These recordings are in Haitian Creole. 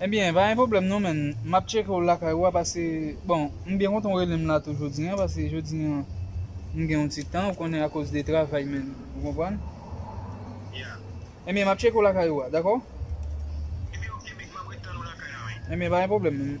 Ebyen pa gen pwoblèm non menn map tcheke w lakay ou a pase bon m byen kontan w rele m la tou jodi an pase jodi an m gen yon ti tan ou konnen akoz de travay menn ou konprann ebyen map tcheke w lakay ou a dakò ebyen pa gen pwoblèm menn.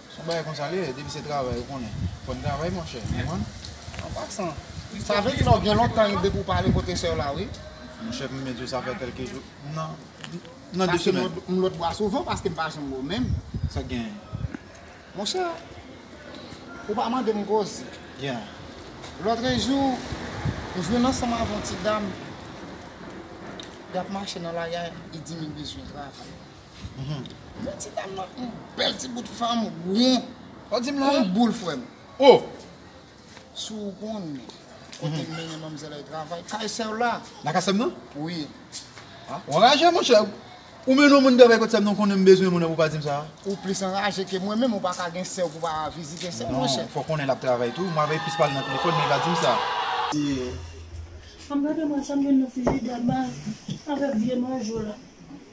Son bagay konsa li ye depi se travay ou konnen fò n travay monchè ou konprann. An pasan sa vle di la ou gen lontan wi depi ou pa ale kote sè w la wi. Monchè m mèt yo sa fè kèlke jou nan nan 2 semèn. Paske m lòt bò a souvan paske m pa janm bo men m. Sa k genyen? Monchè ou pa mande m koze. Yeah. Lòtrejou m jwenn ansanm avè yon ti dam y ap mache nan lari a li di m li bezwen travay. Bon ti dam nan yon bèl ti bout fanm won kon boul frèm. Si w konn kote m mennen manmzèl ay travay kay sè w la. Nan kay sè m nan? Wi. W anraje monchè. Ou mennen yon moun travay kot sè m nan w konnen m bezwen moun nan pou w pa di m sa? Ou plis anraje ke mwen menm ou pa ka gen sè w pou w pa vizite sè w monchè. Non, fò w konnen l ap travay tou. Mwen avè l plis pale nan telefòn men li pa di m sa. Anmwey Demen sa m jwenn nan frijidè m avèk vye manjou la.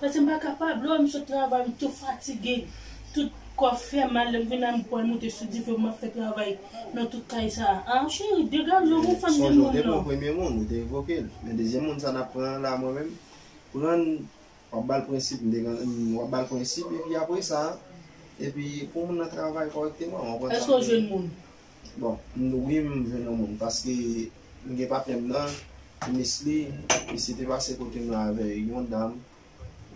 Pase m pa kapab, lè w wè m sot travay m tou fatige, tout kò fè mal, lè m vin la m pwal moute sou dife pou m ap fè travay nan tout kay sa a. Ah cheri, degaje w pou fanm de moun nan. Sonje w te pran premye moun, ou te revoke l. Men dezyèm moun sa n ap pran an la mwen menm, pran l, w ap ba l prensip, m te gen, w ap ba l prensip epi apresa, epi pou moun nan travay kòrèkteman, w konprann sa m vle di. Èske w jwenn moun? Bon mnw wi m jwenn yon moun paske m gen patnèm nan m miss li misye te pase kotem la avè yon dam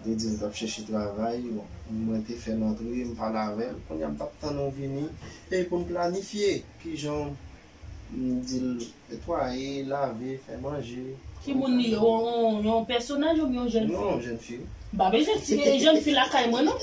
li te dil tap chèche travay bon mwen te fèl antre m pale avèl kounya m tap tann ou vini e poun planifye kijanw m dil netwaye lave fè manje Ki moun li ye yon pèsonaj oubyen yon jèn fi? Non yon jèn fi wi. M pa bezwen ti jèn fi lakay mwen non.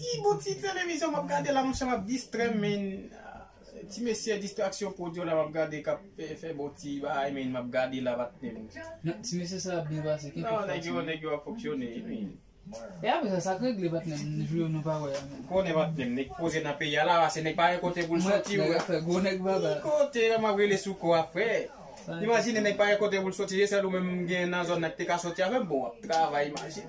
Ki bon ti fèm emisyon map gade la monchè map distrèm menn ti mesye distraksyon prodyo la map gade kap fè bon ti bagay menn map gade la pa tnde menn. Ti mesye sa ap byen pase kenbe fòs menn. Non nèg yo ap fonksyone wi menn. E apre sa sak regle patnè m jou yo nou pa wè a menn. M konnen patnè m nèg poze nan peyi a la pase nèg pa gen kote poul soti wi. Ki kote la map rele sou kò a frè. Imajine nèg pa gen kote poul soti se sèl ou menm m gen nan zòn nan ki te ka soti avèm bon wap travay imajine.